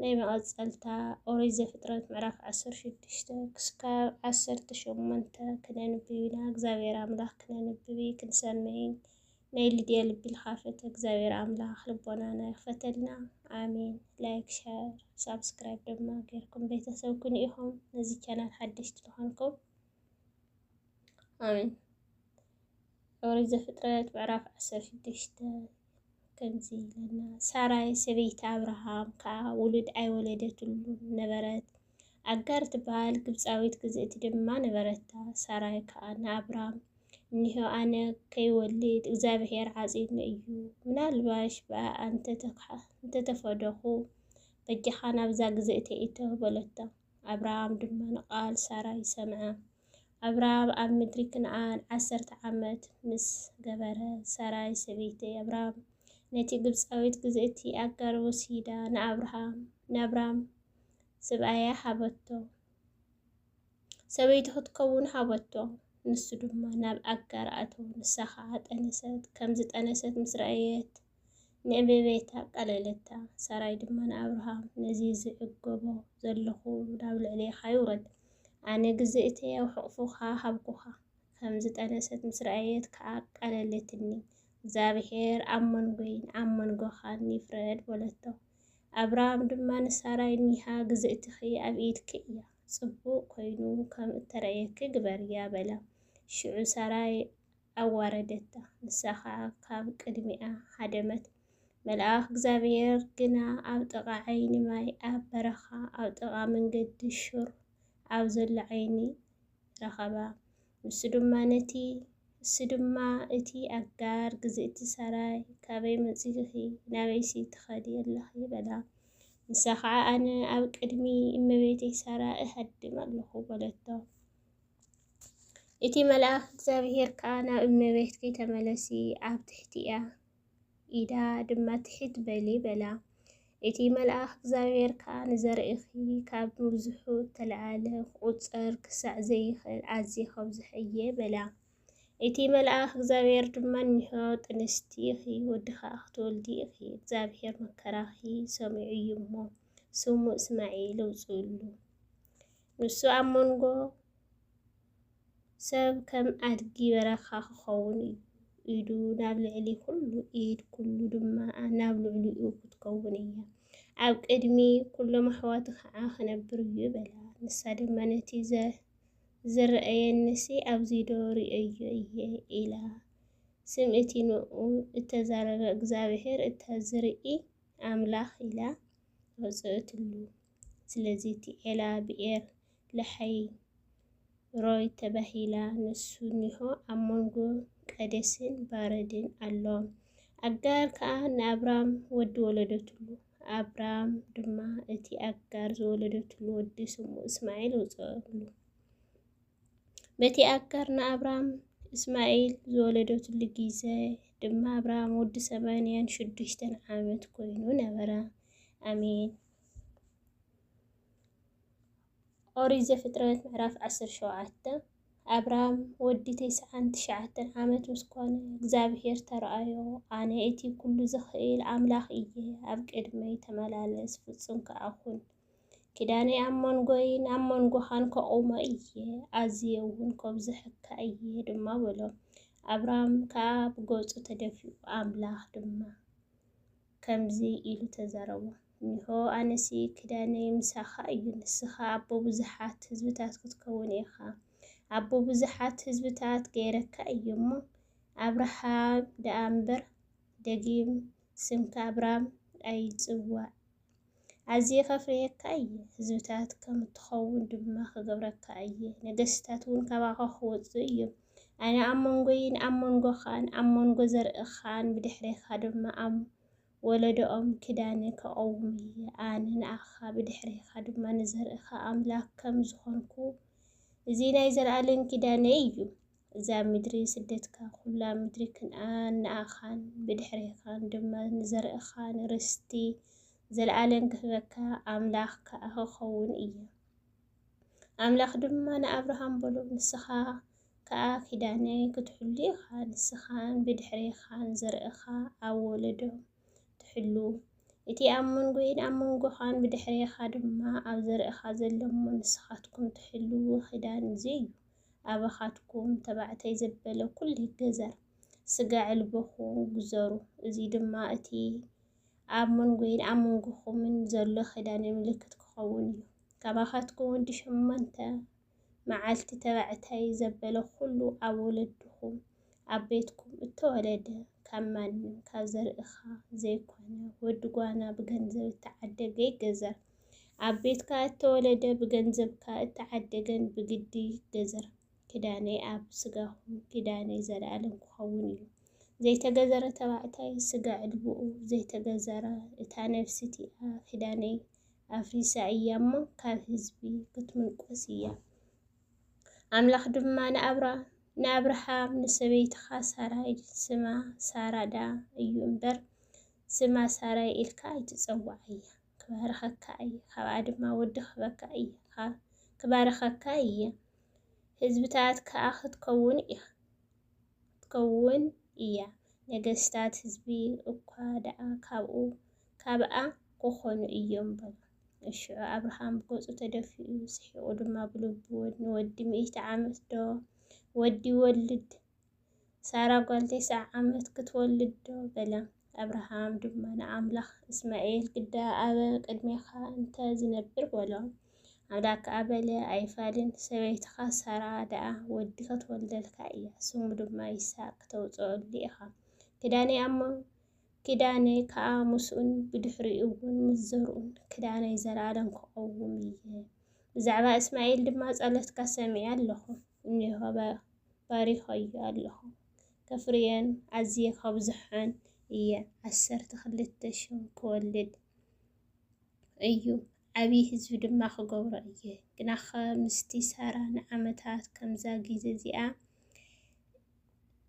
ናይ መቐጸልታ ኦሪት ዘፍጥረት ምዕራፍ ዓሰርተ ሽዱሽተ ክስካብ ዓሰርተ ሸሞንተ ክነንብብ ኢና። እግዚኣብሔር ኣምላኽ ክነንብብ ክንሰምዕን ናይ ልድያ ልቢ ልካፈተ እግዚኣብሔር ኣምላኽ ልቦናና ይኽፈተልና። ኣሜን። ላይክ ሸር ሳብስክራይብ ድማ ጌርኩም ቤተሰብ ኩኑ ኢኹም። ነዚ ቻናል ሓደሽቲ ዝኾንኩም ኣሜን። ኦሪት ዘፍጥረት ምዕራፍ ዓሰርተ ሽዱሽተ ከምዚ ይብለና ሳራይ ሰበይቲ ኣብርሃም ከዓ ውሉድ ኣይወለደትሉን ነበረት። ኣጋር ትበሃል ግብፃዊት ግዝእቲ ድማ ነበረታ። ሳራይ ከዓ ንኣብራም እኒሆ ኣነ ከይወልድ እግዚኣብሔር ዓፂኑ እዩ፣ ምናልባሽ ብኣ እንተተፈደኹ በጃኻ ናብዛ ግዝእቲ እቶ በለቶ። ኣብርሃም ድማ ንቓል ሳራይ ሰምዐ። ኣብርሃም ኣብ ምድሪ ክንኣን ዓሰርተ ዓመት ምስ ገበረ፣ ሳራይ ሰበይቲ ኣብርሃም ነቲ ግብጻዊት ግዝእቲ ኣጋር ወሲዳ ንኣብርሃም ንኣብራም ስብኣያ ሃበቶ። ሰበይቱ ክትከውን ሃበቶ። ንሱ ድማ ናብ ኣጋር ኣተወ፣ ንሳ ኸኣ ጠነሰት። ከም ዝጠነሰት ምስ ረኣየት፣ ንዕቤቤት ኣቃለለታ። ሰራይ ድማ ንኣብርሃም፣ ነዚ ዝዕገቦ ዘለኹ ናብ ልዕሌኻ ይውረድ። ኣነ ግዘ እተይ ኣብ ሕቑፍኻ ሃብኩኻ። ከም ዝጠነሰት ምስ ረኣየት ከኣ ኣቃለለትኒ። እግዚኣብሄር ኣብ መንጎይን ኣብ መንጎኻን ይፍረድ በለቶ። ኣብርሃም ድማ ንሳራይ እኒሃ ግዝእትኺ ኣብ ኢድኪ እያ፣ ጽቡቕ ኮይኑ ከም እተርእየኪ ግበርያ በላ። ሽዑ ሰራይ ኣዋረደታ፣ ንሳ ኸኣ ካብ ቅድሚኣ ሃደመት። መልኣኽ እግዚኣብሄር ግና ኣብ ጥቓ ዓይኒ ማይ ኣብ በረኻ፣ ኣብ ጥቓ መንገዲ ሹር ኣብ ዘሎ ዓይኒ ረኸባ። ንሱ ድማ ነቲ ንሱ ድማ እቲ ኣጋር ግዝእቲ ሰራይ፣ ካበይ መጺእኺ፣ ናበይሲ ትኸዲ ኣለኺ? በላ። ንሳ ኸኣ ኣነ ኣብ ቅድሚ እመቤተይ ሰራ እሃድም ኣለኹ በለቶ። እቲ መልኣኽ እግዚኣብሄር ከኣ ናብ እመቤትኪ ተመለሲ፣ ኣብ ትሕቲኣ ኢዳ ድማ ትሕት በሊ በላ። እቲ መልኣኽ እግዚኣብሄር ከኣ ንዘርእኺ ካብ ምብዝሑ እተለዓለ ክቝጸር ክሳዕ ዘይክእል ኣዝየ ከብዝሖ እየ በላ። እቲ መልኣኽ እግዚኣብሄር ድማ እኒሆ ጥንስቲ ኢኺ፣ ወዲ ኸኣ ክትወልዲ ኢኺ፣ እግዚኣብሄር መከራኺ ሰሚዑ እዩ እሞ፣ ስሙ እስማኤል ኣውጽእሉ። ንሱ ኣብ መንጎ ሰብ ከም ኣድጊ በረኻ ክኸውን እዩ፣ ኢዱ ናብ ልዕሊ ኩሉ ኢድ ኩሉ ድማ ናብ ልዕሊኡ ክትከውን እያ፣ ኣብ ቅድሚ ኩሎም ኣሕዋቱ ኸዓ ክነብር እዩ በላ። ንሳ ድማ ነቲ ዝረኣየኒሲ ኣብዚዶ ርእየዮ እየ ኢላ። ስም እቲ ንኡ እተዛረበ እግዚኣብሔር እታ ዝርኢ ኣምላኽ ኢላ ኣውፅእትሉ። ስለዚ እቲ ዔላ ብኤር ለሓይ ሮይ ተባሂላ ንሱ እኒሆ ኣብ መንጎ ቃዴስን ባረድን ኣሎ። ኣጋር ከኣ ንኣብራም ወዲ ወለደትሉ፣ ኣብራም ድማ እቲ ኣጋር ዝወለደትሉ ወዲ ስሙ እስማዒል ኣውጽኣሉ። በቲ ኣጋር ንኣብራም እስማዒል ዝወለደትሉ ግዜ ድማ ኣብራም ወዲ ሰማንያን ሽዱሽተን ዓመት ኮይኑ ነበረ። ኣሜን። ኦሪት ዘፍጥረት ምዕራፍ ዓሰርተ ሸውዓተ ኣብራም ወዲ ተስዓን ትሽዓተን ዓመት ምስ ኮነ እግዚኣብሄር ተረኣዮ፣ ኣነ እቲ ኩሉ ዝኽእል ኣምላኽ እየ፣ ኣብ ቅድመይ ተመላለስ፣ ፍጹም ከኣ ኩን። ኪዳነይ ኣብ መንጎይን ኣብ መንጎኻን ከቑሞ እየ፣ ኣዝየ እውን ከብዝሐካ እየ ድማ በሎ። ኣብራም ከኣ ብገጹ ተደፊኡ፣ ኣምላኽ ድማ ከምዚ ኢሉ ተዛረቦ፣ እነሆ ኣነሲ ኪዳነይ ምሳኻ እዩ፣ ንስኻ ኣቦ ብዙሓት ህዝብታት ክትከውን ኢኻ፣ ኣቦ ብዙሓት ህዝብታት ገይረካ እየ እሞ፣ ኣብርሃም ደኣ እምበር፣ ደጊም ስምካ ኣብራም ኣይጽዋዕ። ኣዝየ ከፍርየካ እየ፣ ህዝብታት ከም እትኸውን ድማ ኽገብረካ እየ፣ ነገስታት እውን ካባኻ ኽወጹ እዮም። ኣነ ኣብ መንጎይን ኣብ መንጎኻን ኣብ መንጎ ዘርእኻን ብድሕሬኻ ድማ ኣብ ወለዶኦም ኪዳነ ከቐውም እየ፣ ኣነ ንኣኻ ብድሕሬኻ ድማ ንዘርእኻ ኣምላኽ ከም ዝኾንኩ እዚ ናይ ዘለኣለም ኪዳነይ እዩ። እዛ ምድሪ ስደትካ ኵላ ምድሪ ክንኣን ንኣኻን ብድሕሬኻን ድማ ንዘርእኻን ርስቲ ዘለኣለም ክህበካ ኣምላኽ ከኣ ክኸውን እየ። ኣምላኽ ድማ ንኣብርሃም በሎ፣ ንስኻ ከኣ ኪዳነይ ክትሕሉ ኢኻ፣ ንስኻን ብድሕሬኻን ዘርእኻ ኣብ ወለዶ ትሕሉ። እቲ ኣብ መንጎይን ኣብ መንጎኻን ብድሕሬኻ ድማ ኣብ ዘርእኻ ዘሎ'ሞ ንስኻትኩም ትሕልዎ ኪዳን እዚ እዩ። ኣበኻትኩም ተባዕታይ ዘበለ ኩሉ ይገዘር ስጋ ዕልቦኹ ግዘሩ እዙይ ድማ እቲ ኣብ መንጎይን ኣብ መንጎኹምን ዘሎ ኪዳነ ምልክት ክኸውን እዩ ካባኻትኩም ወዲ ሸሞንተ መዓልቲ ተባዕታይ ዘበለ ኩሉ ኣብ ወለድኹም ኣብ ቤትኩም እተወለደ ካብ ማንም ካብ ዘርእኻ ዘይኮነ ወዲ ጓና ብገንዘብ እተዓደገ ይገዘር ኣብ ቤትካ እተወለደ ብገንዘብካ እተዓደገን ብግዲ ገዘር። ኪዳነይ ኣብ ስጋኹም ኪዳነይ ዘለኣለም ክኸውን እዩ። ዘይተገዘረ ተባዕታይ ስጋ ዕልብኡ ዘይተገዘረ እታ ነፍሲ እቲኣ ኪዳነይ ኣፍሪሳ እያ እሞ ካብ ህዝቢ ክትምንቆስ እያ። ኣምላኽ ድማ ንኣብራ ንኣብርሃም ንሰበይትኻ ሳራይ ስማ ሳራዳ እዩ እምበር ስማ ሳራይ ኢልካ ኣይትጸዋዓያ። ክባርኸካ እየ ካብኣ ድማ ወዲ ክህበካ እየ ክባርኸካ እየ ህዝብታት ከኣ ክትከውን ኢኻ ክትከውን እያ ነገስታት ህዝቢ እኳ ደኣ ካብኡ ካብኣ ክኾኑ እዮም በሎ። እሽዑ ኣብርሃም ብገጹ ተደፊኡ ስሒቑ ድማ ብልቡ ንወዲ ሚእቲ ዓመት ዶ ወዲ ይወልድ ሳራ ጓል ቴስዓ ዓመት ክትወልድ ዶ? በለ። ኣብርሃም ድማ ንኣምላኽ፣ እስማኤል ግዳ ኣበ ቅድሜኻ እንተ ዝነብር በሎ። ኣምላክ ከኣ በለ፣ ኣይፋልን፣ ሰበይትኻ ሳራ ደኣ ወዲ ክትወልደልካ እያ፣ ስሙ ድማ ይስሐቅ ክተውጽኦሉ ኢኻ። ክዳነይ ኣሞ ኪዳነይ ከዓ ምስኡን ብድሕሪ እውን ምስ ዘርኡን ክዳነይ ዘለኣለም ክቐውም እየ። ብዛዕባ እስማኤል ድማ ጸሎትካ ሰሚዐ ኣለኹ እኒሆ ባሪኸዮ ኣለኹ ከፍርየን ኣዝየ ከብዝሖን እየ ዓሰርተ ክልተ ሽም ክወልድ እዩ ዓቢ ህዝቢ ድማ ክገብሮ እየ ግናኸ ምስቲ ሳራ ንዓመታት ከምዛ ግዜ እዚኣ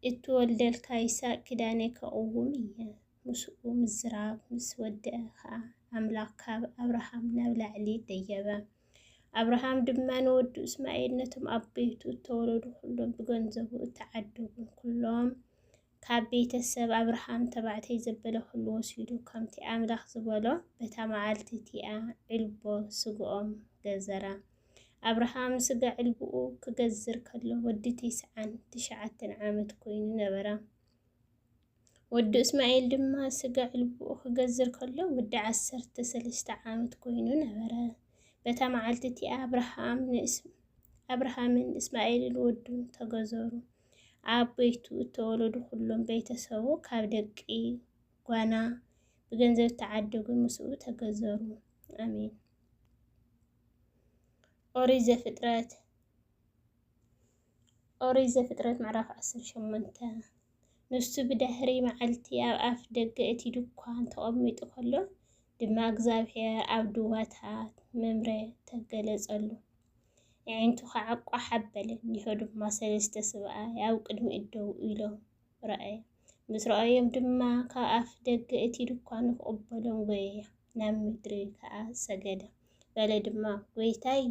እትወልደልካ ይስሐቅ ኪዳነይ ከቕውም እየ ምስኡ ምዝራብ ምስ ወድኣ ኸኣ ኣምላኽ ካብ ኣብርሃም ናብ ላዕሊ ደየበ። ኣብርሃም ድማ ንወዱ እስማኤል ነቶም ኣብ ቤቱ እተወለዱ ዅሎም ብገንዘቡ እተዓደጉን ኵሎም ካብ ቤተ ሰብ ኣብርሃም ተባዕተይ ዘበለ ዅሉ ወሲዱ፣ ከምቲ ኣምላኽ ዝበሎ በታ መዓልቲ እቲኣ ዒልቦ ስግኦም ገዘራ። ኣብርሃም ስጋ ዕልብኡ ክገዝር ከሎ ወዲ ቴስዓን ትሽዓተን ዓመት ኮይኑ ነበረ። ወዱ እስማኤል ድማ ስጋዕ ልቡኡ ክገዝር ከሎ ወዲ ዓሰርተ ሰለስተ ዓመት ኮይኑ ነበረ። በታ መዓልቲ እቲኣ ኣብርሃም ንእስ ኣብርሃምን እስማኤልን ወዱን ተገዘሩ። ኣብ ቤቱ እተወለዱ ኩሎም ቤተሰቡ ካብ ደቂ ጓና ብገንዘብ እተዓደጉ ምስኡ ተገዘሩ። ኣሜን። ኦሪት ዘፍጥረት ኦሪት ዘፍጥረት ምዕራፍ ዓሰርተ ሸሞንተ ንሱ ብድሕሪ መዓልቲ ኣብ ኣፍ ደገ እቲ ድኳን ተቐሚጡ ከሎ ድማ እግዚኣብሔር ኣብ ድዋታት መምረ ተገለጸሉ። ኣዒንቱ ከዓ ቋሕ ኣበለ፣ እኒሆ ድማ ሰለስተ ስብኣይ ኣብ ቅድሚ እደው ኢሎም ረኣየ። ምስ ረኣዮም ድማ ካብ ኣፍ ደገ እቲ ድኳን ክቕበሎም ጎየየ፣ ናብ ምድሪ ከዓ ሰገደ። በለ ድማ ጎይታይ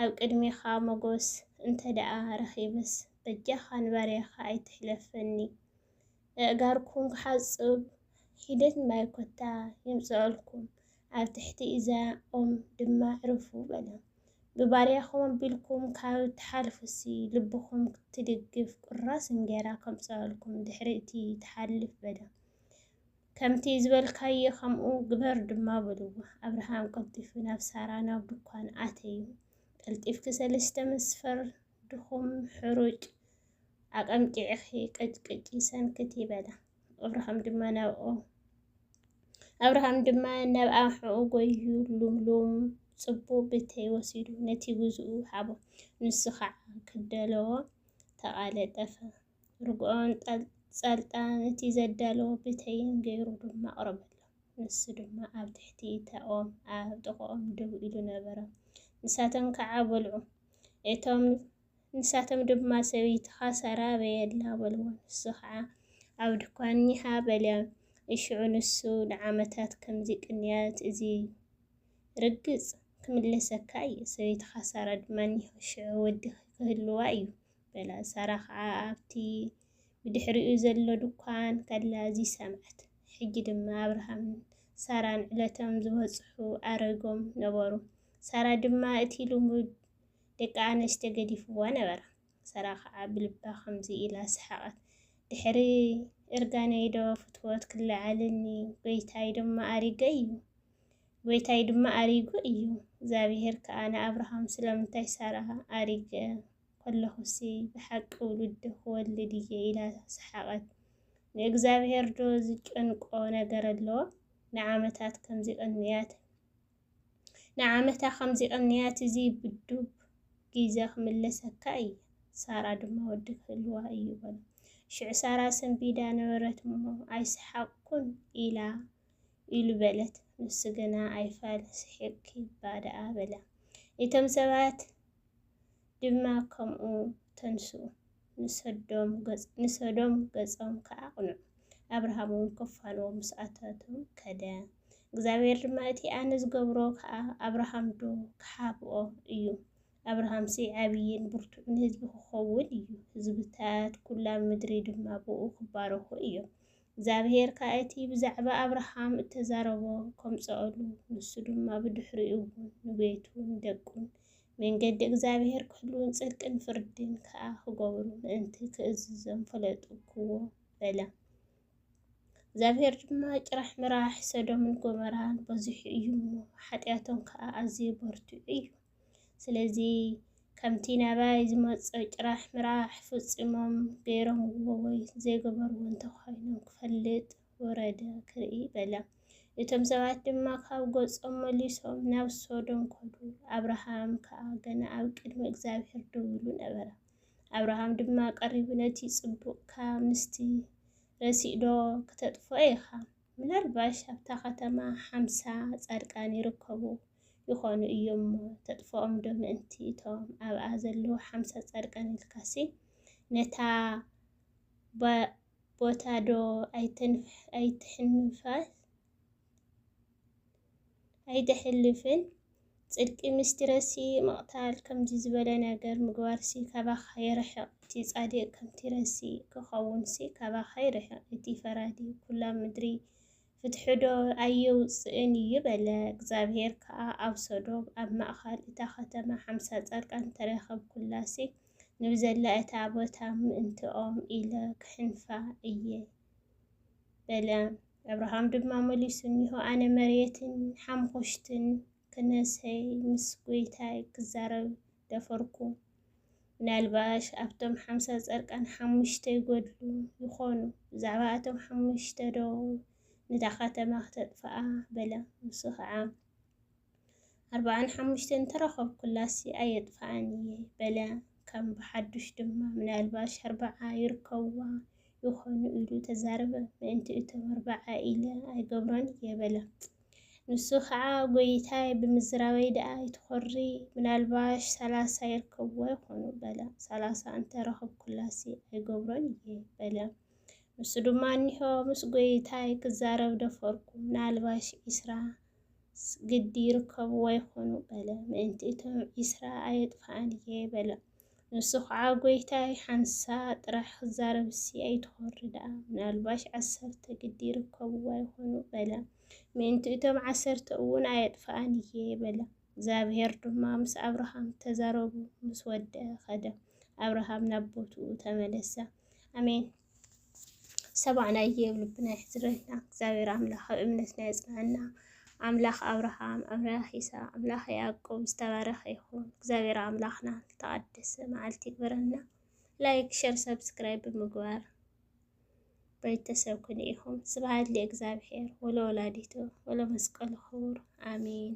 ኣብ ቅድሜኻ ሞጎስ እንተደኣ ረኺበስ በጃኻ ንባርያኻ ኣይትሕለፈኒ እእጋርኩም ክሓጽብ ሒደት ማይ ኮታ ይምጸኣልኩም ኣብ ትሕቲ እዛ ኦም ድማ ዕረፉ በለ ብባርያኹም ኣቢልኩም ካብ ትሓልፉሲ ልብኹም ትድግፍ ቁራስ እንጌራ ከምጸኣልኩም ድሕሪ እቲ ትሓልፍ በለ ከምቲ ዝበልካዮ ከምኡ ግበር ድማ በልዎ። ኣብርሃም ቀልጢፉ ናብ ሳራ ናብ ድኳን ኣተዩ። ቀልጢፍኪ ሰለስተ መስፈር ድኹም ሕሩጭ ኣቐምቂዕኺ ቀጭቅጪ ሰንክቲ በላ። ኣብርሃም ድማ ናብኦ ኣብርሃም ድማ ናብ ኣንሕኡ ጎዩ ሉምሉም ጽቡቕ ብተይ ወሲዱ ነቲ ግዝኡ ሃቦ። ንሱ ኸዓ ክደለዎ ተቓለጠፈ። ርግኦን ጸልጣን እቲ ዘዳለዎ ብተይን ገይሩ ድማ ኣቕረበሎም። ንሱ ድማ ኣብ ትሕቲ እታ ኦም ኣብ ጥቕኦም ደው ኢሉ ነበረ። ንሳቶም ከዓ በልዑ። እቶም ንሳቶም ድማ ሰበይትኻ ሳራ በየላ በልዎ። ንሱ ከዓ ኣብ ድኳን እኒሃ በለ። እሽዑ ንሱ ንዓመታት ከምዚ ቅንያት እዚ ርግጽ ክምለሰካ እዩ፣ ሰበይትኻ ሳራ ድማ እኒሆ ሽዑ ወድኺ ክህልዋ እዩ በላ ሳራ ኸኣ ኣብቲ ብድሕሪኡ ዘሎ ድኳን ከላ እዚ ሰምዐት። ሕጂ ድማ ኣብርሃምን ሳራን ዕለቶም ዝበጽሑ ኣረጎም ነበሩ። ሳራ ድማ እቲ ልሙድ ደቂ ኣነስትዮ ገዲፍዋ ነበረ። ሳራ ኸኣ ብልባ ከምዚ ኢላ ሰሓቐት፣ ድሕሪ እርጋነይዶ ፍትወት ክለዓለኒ፣ ጐይታይ ድማ ኣሪገ እዩ። ጐይታይ ድማ ኣሪጉ እዩ። እግዚኣብሄር ከኣ ንኣብርሃም ስለምንታይ ሳራ ኣሪገ? ከለኹሲ ብሓቂ ውሉድ ክወልድ እየ ኢላ ሰሓቐት። ንእግዚኣብሄርዶ ዝጨንቆ ነገር ኣሎ? ንዓመታት ከምዚ ቀንያት ንዓመታ ከምዚ ቀንያት እዚ ብዱብ ጊዘ ክምለሰካ እየ፣ ሳራ ድማ ወዲ ክህልዋ እዩ በሎ። ሽዑ ሳራ ሰንቢዳ ነበረት እሞ ኣይሰሓቕኩን ኢላ ኢሉ በለት። ንሱ ግና ኣይፋል ስሒቕኪ እባ ደኣ በላ። እቶም ሰባት ድማ ከምኡ ተንስኡ፣ ንሰዶም ገጾም ከኣ ኣቕንዑ። ኣብርሃምውን ክፋንዎ ምስ ኣተቱ ከደ። እግዚኣብሄር ድማ እቲ ኣነ ዝገብሮ ከኣ ኣብርሃምዶ ክሓብኦ እዩ፣ ኣብርሃምሲ ዓብይን ብርቱዕን ህዝቢ ክኸውን እዩ፣ ህዝብታት ኵላ ምድሪ ድማ ብእኡ ክባረኹ እዮም። እግዚኣብሄር ከኣ እቲ ብዛዕባ ኣብርሃም እተዛረቦ ከምጽኦሉ፣ ንሱ ድማ ብድሕሪኡ እውን ንቤቱን ደቁን መንገዲ እግዚኣብሄር ክሕልዉን ጽድቅን ፍርድን ከኣ ክገብሩ ምእንቲ ክእዝዞም ፈለጥኩዎ በለ። እግዚኣብሄር ድማ ጭራሕ ምራሕ ሰዶምን ጎመራን በዚሑ እዩ እሞ፣ ሓጢኣቶም ከኣ ኣዝዩ በርቲዑ እዩ። ስለዚ ከምቲ ናባይ ዝመጾ ጭራሕ ምራሕ ፍጺሞም ገይሮምዎ ወይ ዘይገበርዎ እንተኾይኖም ክፈልጥ ወረደ ክርኢ በለ። እቶም ሰባት ድማ ካብ ገጾም መሊሶም ናብ ሶዶም ከዱ፣ ኣብርሃም ከኣ ገና ኣብ ቅድሚ እግዚኣብሄር ደው ኢሉ ነበረ። ኣብርሃም ድማ ቀሪቡ ነቲ ጽቡቕካ ምስቲ ረሲእዶ ክተጥፍኦ ኢኻ? ምናልባሽ ኣብታ ከተማ ሓምሳ ጻድቃን ይርከቡ ይኾኑ እዩ'ሞ፣ ተጥፍኦም'ዶ ምእንቲ እቶም ኣብኣ ዘለዉ ሓምሳ ጻድቃን ኢልካሲ፣ ነታ ቦታ'ዶ ኣይተሕልፍን? ጽድቂ ምስቲረሲ ምቕታል ከምዚ ዝበለ ነገር ምግባርሲ ካባኻ ይርሕቕ፣ እቲ ጻድቕ ከምቲረሲ ክኸውንሲ ካባኻ ይርሕቕ፣ እቲ ፈራዲ ኵላ ምድሪ ፍትሒዶ ኣየውጽእን እዩ በለ። እግዚኣብሄር ከኣ ኣብ ሶዶም ኣብ ማእከል እታ ኸተማ ሓምሳ ጻድቃን ተረኸብኩላሲ ንብዘላ እታ ቦታ ምእንትኦም ኢለ ክሕንፋ እየ። በለ። ኣብርሃም ድማ መሊሱ እኒሆ ኣነ መሬትን ሓምኹሽትን ክነሰይ ምስ ጎይታይ ክዛረብ ደፈርኩ። ምናልባሽ ኣብቶም ሓምሳ ጸርቃን ሓሙሽተ ይጎድሉ ይኾኑ፣ ብዛዕባ ኣቶም ሓሙሽተ ዶ ነታ ከተማ ክተጥፍኣ በለ። ንሱ ከዓ ኣርብዓን ሓሙሽተን እንተረኸብኩላሲ ኣየጥፍኣን እየ በለ። ከም ብሓዱሽ ድማ ምናልባሽ ኣርብዓ ይርከብዋ ይኾኑ ኢሉ ተዛረበ። ምእንቲ እቶም ኣርብዓ ኢለ ኣይገብሮን እየ በለ። ንሱ ከዓ ጎይታይ ብምዝራበይ ደኣ ይትኾሪ ምናልባሽ ሰላሳ ይርከብዎ ይኾኑ በለ። ሰላሳ እንተረኸብኩላሲ ኣይገብሮን እየ በለ። ንሱ ድማ እኒሆ ምስ ጎይታይ ክዛረብ ደፈርኩ ምናልባሽ ዒስራ ስ ግዲ ይርከብዎ ይኾኑ በለ። ምእንቲ እቶም ዒስራ ኣየጥፍኣን እየ በለ። ንሱ ኸዓ ጐይታይ ሓንሳእ ጥራሕ ክዛረብሲ ኣይትኾሪ ደኣ፣ ምናልባሽ ዓሰርተ ግዲ ይርከብዋ ይኾኑ በለ። ምእንቲ እቶም ዓሰርተ እውን ኣየጥፍኣን እየ በለ። እግዚኣብሄር ድማ ምስ ኣብርሃም ተዛረቡ ምስ ወድኣ ኸደ። ኣብርሃም ናብ ቦትኡ ተመለሰ። ኣሜን። ሰባዕ ናይ የብ ልብና ይሕዝረልና እግዚኣብሔር ኣምላክ ኣብ እምነትና የፅንዐና ኣምላክ ኣብርሃም ኣምላክ ይስሐቅ ኣምላክ ያዕቆብ ዝተባረከ ይኩን እግዚኣብሔር ኣምላክና ዝተቀደሰ መዓልቲ ይግበረና ላይክ ሸር ሰብስክራይብ ብምግባር ቤተሰብ ኩን ኢኹም ስብሐት ለእግዚኣብሔር ወለወላዲቱ ወለመስቀሉ ክቡር ኣሜን